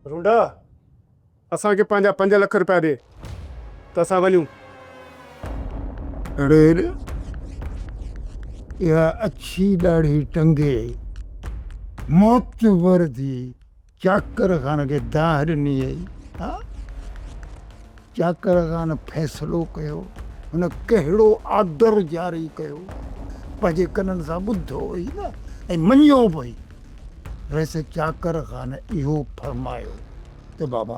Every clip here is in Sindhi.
رونڊا! اسان کي پنهنجا پنج لک روپيا ڏي ته اسان وڃون. اڙي اڙي! اها اڇي ڏاڙهي ٽنگي معتبر ڌي چاڪر خان کي دانهن ڏني هئي. ها! چاڪر خان فيصلو ڪيو. هن ڪهڙو آرڊر جاري ڪيو؟ پنهنجي ڪنن سان ٻڌو هئي نه ۽ مڃيو به هئي. رئيس چاڪر خان اهو فرمايو ته بابا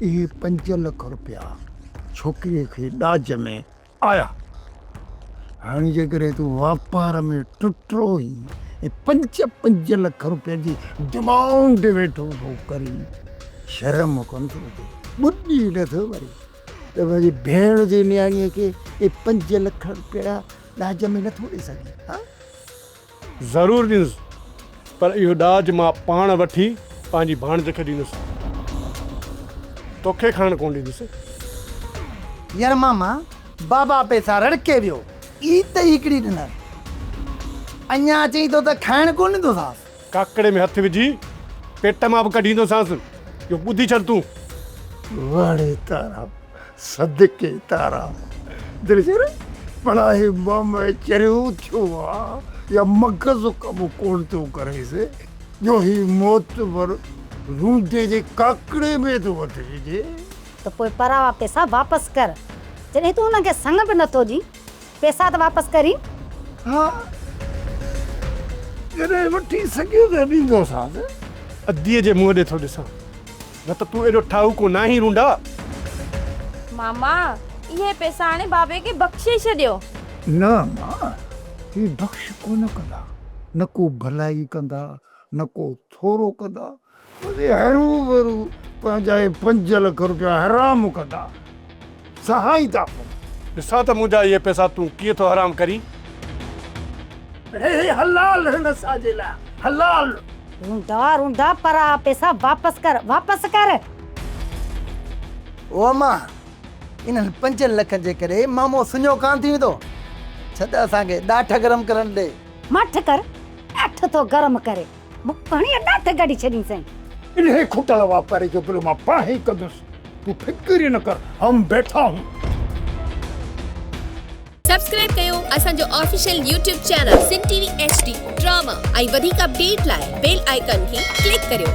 اهي پنج لک روپيا ڇوڪريء کي ڏاج ۾ آيا. هاڻي جيڪڏهن تون واپار ۾ ٽٽرو هين ۽ پنج پنج لک روپين جي ڊمانڊ ويٺو ٿو ڪرين، شرم ڪونه ٿو اچي، ٻڏي نه ٿو مرين ته پنهنجي ڀيڻ جي نياڻيء کي اهي پنج لک روپيا ڏاج ۾ نه ٿو ڏئي سگهين؟ ضرور ڏيندس پر اهو ڏاج مان پاڻ وٺي پنهنجي ڀاڻج کي ڏيندس توکي کڻڻ ڪونه ڏيندس. يار ماما بابا پئسا رڙڪي ويو. اي ته هيڪڙي ڏنر اڃا اچئي ٿو ته کائڻ ڪونه ڏيندوسانس. ڪاڪڙي ۾ هٿ وجهي پيٽ مان به ڪڍيندوسانس اهو ٻڌي ڇڏ تون. وڙي تارا صدقي تارا دل جي ري ڀلا هي مم چريو ٿيو آ يا مغز ڪم ڪون ٿو ڪريس جو هي معتبر روندي جي ڪاڪڙي ۾ ٿو وٺي ڏي. ته پوء پراوا پيسا واپس ڪر جڏهن تون هن کي سڱ به نٿو ڏين پيسا ته واپس ڪر هي. ها جڏهن وٺي سگهيو ته ڏيندوسانس. اديء جي منهن ڏي ٿو ڏسان. نه ته تون ايڏو ٺاهوڪو ناهين رونڊا. ماما اهي پئسا آڻي بابي کي بخشي ڇڏيو. نه ماء هي بخش ڪونه ڪندا. نه ڪو ڀلائي ڪندا نه ڪو ٿورو ڪندا بس هروڀرو پنهنجا هي پنج لک روپيا حرام ڪندا. سهائين ٿا پون. ڏسان ته منهنجا اهي پئسا تون ڪيئن ٿو حرام ڪرين. هي هي حلال هن اساجي لاء حلال. روندا روندا پر آ پئسا واپس ڪر واپس ڪر. او اما انهن پنجن لکن جي ڪري مامو سڃو ڪانه ٿي ويندو ڇڏ اسان کي ڏاٺ گرم ڪرڻ ڏي. ماٺ ڪر ڏاٺ ٿو گرم ڪري. مون پاڻي اڏا اٿ ڪڍي ڇڏين سائين. انهي کٽل واپاري جو بل مان پاڻ ئي ڪندس تون فڪر ئي نه ڪر هم بيٺا هون. سبسڪرائب ڪيو اسان جو official YouTube channel Sindh T V H D drama ۽ وڌيڪ اپڊيٽ لاء بيل آئيڪان کي ڪلڪ ڪريو.